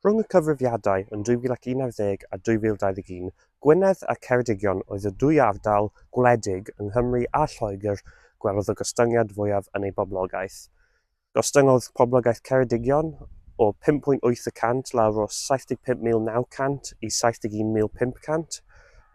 Rhwng y cyfrifiadau yn 2011 a 2021, Gwynedd a Ceredigion oedd y dwy ardal gwledig yng Nghymru a Lloegr gwelodd y gostyngiad fwyaf yn eu boblogaeth. Gostyngodd poblogaeth Ceredigion o 5.8 y cant lawr o 75,900 i 71,500,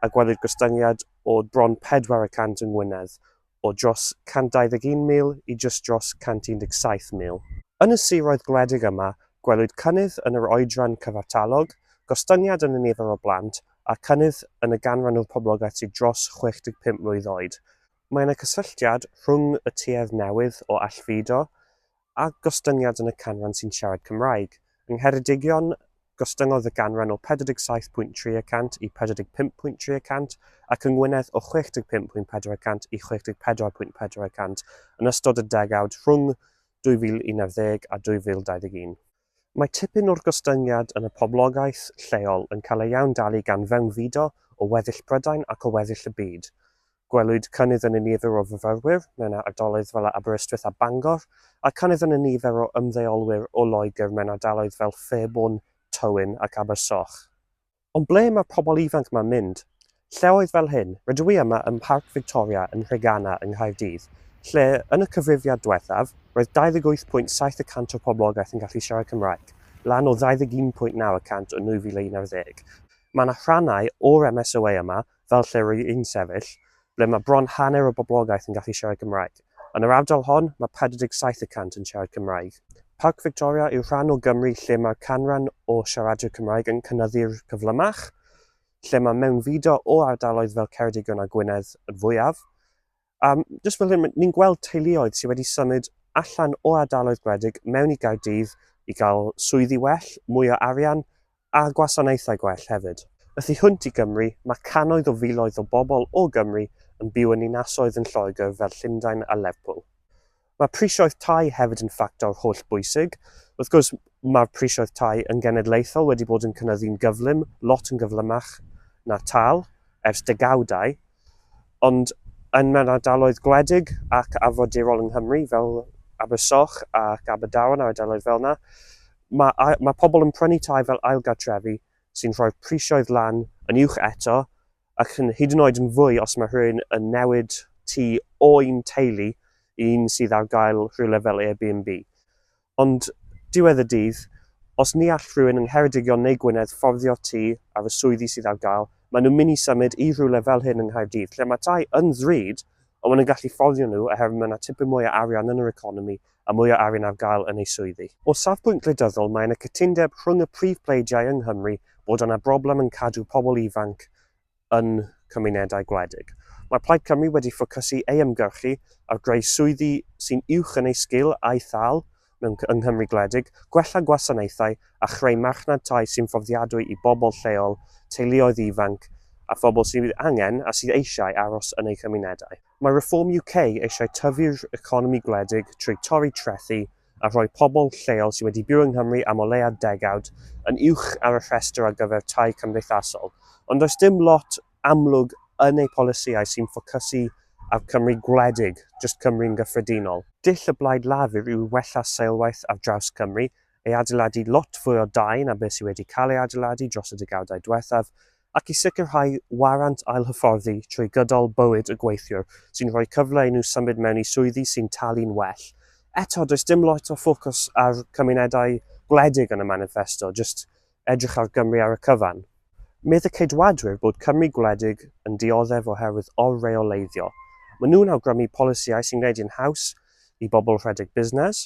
a gwelwyd gostyngiad o bron pedwar y cant yng Ngwynedd, o dros 121,000 i jyst dros 117,000. Yn y siroedd gwledig yma, gwelwyd cynnydd yn yr oedran cyfartalog, gostyngiad yn y nifer o blant, a chynnydd yn y ganran o'r poblogaeth sydd dros 65 mlwydd oed. Mae yna gysylltiad rhwng y tuedd newydd o allfudo a gostyngiad yn y canran sy'n siarad Cymraeg. Yng Ngheredigion, gostyngodd y ganran o 47.3 y cant i 45.3 y cant, ac yng Ngwynedd o 65.4 y cant i 64.4 y cant yn ystod y degawd rhwng 2011 a 2021. Mae tipyn o'r gostyngiad yn y poblogaeth lleol yn cael ei iawndali gan fewnfudo o weddill Prydain ac o weddill y byd. Gwelwyd cynnydd yn y nifer o fyfyrwyr mewn ardaloedd fel Aberystwyth a Bangor, a cynnydd yn y nifer o ymddeolwyr o Loegr mewn ardaloedd fel Fairbourne, Tywyn ac Abersoch. Ond ble mae'r pobl ifanc ma'n mynd? Lleoedd fel hyn, rydw i yma ym Mharc Victoria yn Nhreganna yng Nghaerdydd, lle, yn y cyfrifiad dwethaf, roedd 28.7 y cant o'r poblogaeth yn gallu siarad Cymraeg, lan o 21.9 y cant yn 2011. Mae 'na rhannau o'r MSOA yma fel lle rwy i'n sefyll, ble mae bron hanner y boblogaeth yn gallu siarad Cymraeg. Yn yr ardal hon, mae 47 y cant yn siarad Cymraeg. Parc Victoria yw'r rhan o Gymru lle mae'r canran o siaradwyr Cymraeg yn cynyddu'r cyflymach, lle mae mewnfudo o ardaloedd fel Ceredigion a Gwynedd yn fwyaf, A jyst fel hyn, ni'n gweld teuluoedd sydd wedi symud allan o ardaloedd gwledig mewn i Gaerdydd i gael swyddi well, mwy o arian a gwasanaethau gwell hefyd. Y thu hwnt i Gymru, mae cannoedd o filoedd o bobl o Gymru yn byw yn ninasoedd yn Lloegr fel Llundain a Lerpwl. Mae prisioedd tai hefyd yn ffactor hollbwysig. Wrth gwrs, mae'r prisioedd tai yn genedlaethol wedi bod yn cynyddu'n gyflym, lot yn gyflymach na tâl, ers degawdau, ond yn mewn ardaloedd gwledig ac arfordirol yng Nghymru, fel Abersoch ac Aberdaron a'r ardaloedd fel yna, mae, mae pobl yn prynu tai fel ailgartrefi sy'n rhoi'r prisioedd lan yn uwch eto ac yn hyd yn oed yn fwy os mae rhywun yn newid tu o'n teulu i un sydd ar gael rhywle fel Airbnb. Ond diwedd y dydd, os ni all rhywun yng Ngheredigion neu Gwynedd fforddio tu ar y swyddi sydd ar gael, maen nhw'n mynd i symud i rhywle fel hyn yng Nghaerdydd, lle mae tai yn ddrud, ond maen nhw'n gallu fforddio nhw oherwydd mae yna tipyn mwy o arian yn yr economi a mwy o arian ar gael yn eu swyddi. O safbwynt gwleidyddol mae yna cytundeb rhwng y prif pleidiau yng Nghymru bod yna broblem yn cadw pobl ifanc yn cymunedau gwledig. Mae Plaid Cymru wedi ffocysu ei ymgyrchu ar greu swyddi sy'n uwch yn eu sgil a'u thâl mewn yng Nghymru gwledig, gwella gwasanaethau a chreu marchnad tai sy'n fforddiadwy i bobl lleol, teuluoedd ifanc a phobl sydd angen a sydd eisiau aros yn eu chymunedau. Mae Reform UK eisiau tyfu'r economi gwledig trwy torri trethi a rhoi pobl lleol sydd wedi byw yng Nghymru am o leiaf degawd yn uwch ar y rhestr ar gyfer tai cymdeithasol, ond does dim lot amlwg yn eu polisïau sy'n ffocysu ar Cymru gwledig, jyst Cymru yn gyffredinol. Dull y Blaid Lafur yw wella seilwaith ar draws Cymru, ei adeiladu lot fwy o dai na beth sydd wedi cael ei adeiladu dros y degawdau diwethaf, ac i sicrhau warant ailhyfforddi trwy gydol bywyd y gweithiwr, sy'n rhoi cyfle i nhw symud mewn i swyddi sy'n talu'n well. Eto, does dim lot o ffocws ar cymunedau gwledig yn y maniffesto, jyst edrych ar Gymru ar y cyfan. Medd y Ceidwadwyr bod Cymru gwledig yn dioddef oherwydd or-reoleiddio. Maen nhw'n awgrymu polisïau sy'n gwneud hi'n haws i bobl rhedeg busnes,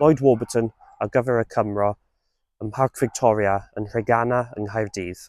Lloyd Warburton ar gyfer y Cymro ym Mharc Victoria yn Nhreganna yng Nghaerdydd.